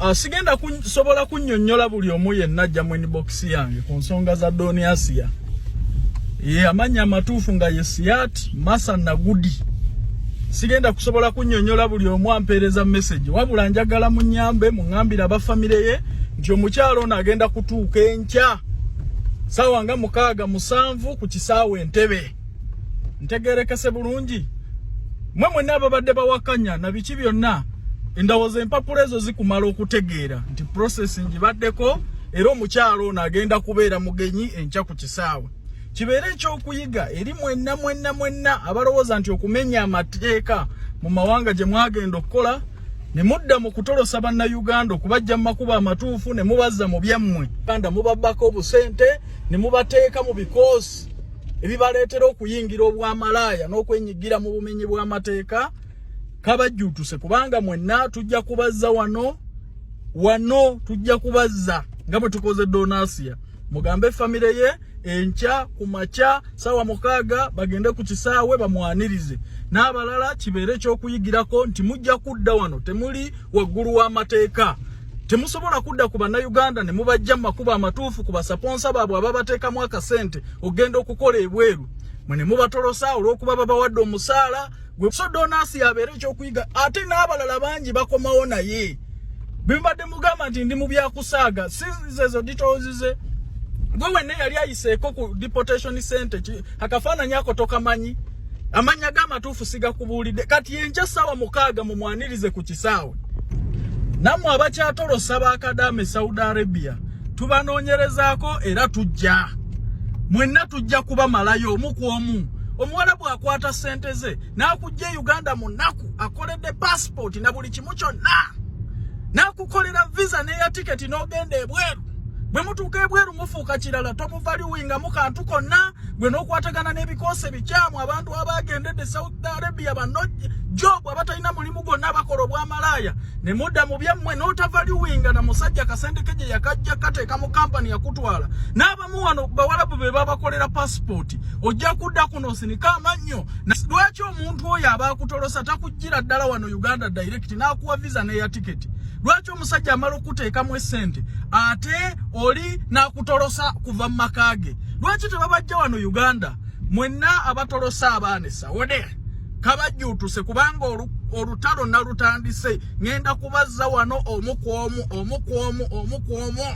Ah, sigenda kusobola kunyonyola buli omu yenna ajja mu inbox yange ku nsonga za doni asiya ye amanya amatuufu nga ye siyat masa nagudi sigenda kusobola kunyonyola buli omu ampeereza message wabula njagala munyambe muŋambire abafamire ye nti omukyalo ono agenda kutuuka enkya saawa nga mukaaga musanvu ku kisaawa entebe ntegerekese bulungi mwe mwena ababadde bawakanya na biki byonna endowooza empapula ezo zikumala okutegeera nti process ngibaddeko era omukyalo ono agenda kubeera mugenyi enkya ku kisaawe kibeere ekyokuyiga eri mwenna mwenna mwenna abalowooza nti okumenya amateeka mu mawanga gye mwagenda okukola ne mudda mu kutolosa bannayuganda okubajja mu makubo amatuufu ne mubazza mu byammwe uganda mubabbako obusente ne mubateeka mu bikoosi ebibaleetera okuyingira obwamalaaya n'okwenyigira mu bumenyi bw'amateeka kabajjutuse kubanga mwenna tujja kubazza wano wano tujja kubazza nga bwe tukoze donasiya mugambe famire ye enkya ku makya saawa mukaaga bagende ku kisaawe bamwanirize n'abalala kibeere ekyokuyigirako nti mujja kudda wano temuli waggulu w'amateeka temusobola kudda ku bannayuganda ne mubajja mu makubo amatuufu ku basaponsa baabwe ababateekamu akasente okugenda okukola ebweru mwe ne mubatolosa olw'okuba babawadde omusaala gwe so donasi yabeera ekyokuyiga ate n'abalala bangi bakomawo naye bimbadde mugamba nti ndi mu byakusaaga sizezo ditozize gwe wenna yali ayiseeko ku deportation center akafaananyi ako tokamanyi amannya ge amatuufu sigakubuulidde kati enkya essaawa mukaaga mumwanirize ku kisaawe nammwe abakyatolosa ba kadaama e saudi arabia tubanoonyerezaako era tujja mwenna tujja kubamalayo omu ku omu omuwala bw'akwata ssente ze n'akujja e uganda mu nnaku akoledde paasipooti na buli kimu kyonna n'akukolera visa n'eya tiketi n'ogenda ebweru bwe mutuuka ebweru mufuuka kirala tomuvaliwingamu kantu konna gwe n'okwatagana n'ebikoosi ebikyamu abantu abaagendedde saudi arabia bano jobu abatalina mulimu gwonna bakola obwamalaaya ne mudda mu byammwe n'otavaliwinga na musajja kasente ke gye yakajja kateeka mu kampani yakutwala n'abamu wano bawalabu be babakolera pasipooti ojja kudda kuno osinika amannyo lwaki omuntu oyo aba akutolosa takujjira ddala wano uganda direct n'akuwa visa n'eya tiketi lwaki omusajja amala okukuteekamu essente ate oli n'akutolosa kuva mu maka ge lwaki tebabajja wano uganda mwenna abatolosa abaana esawode kabajjuutuse kubanga olutalo nalutandise ŋenda kubazza wano omu ku omu omu ku omu omu ku omu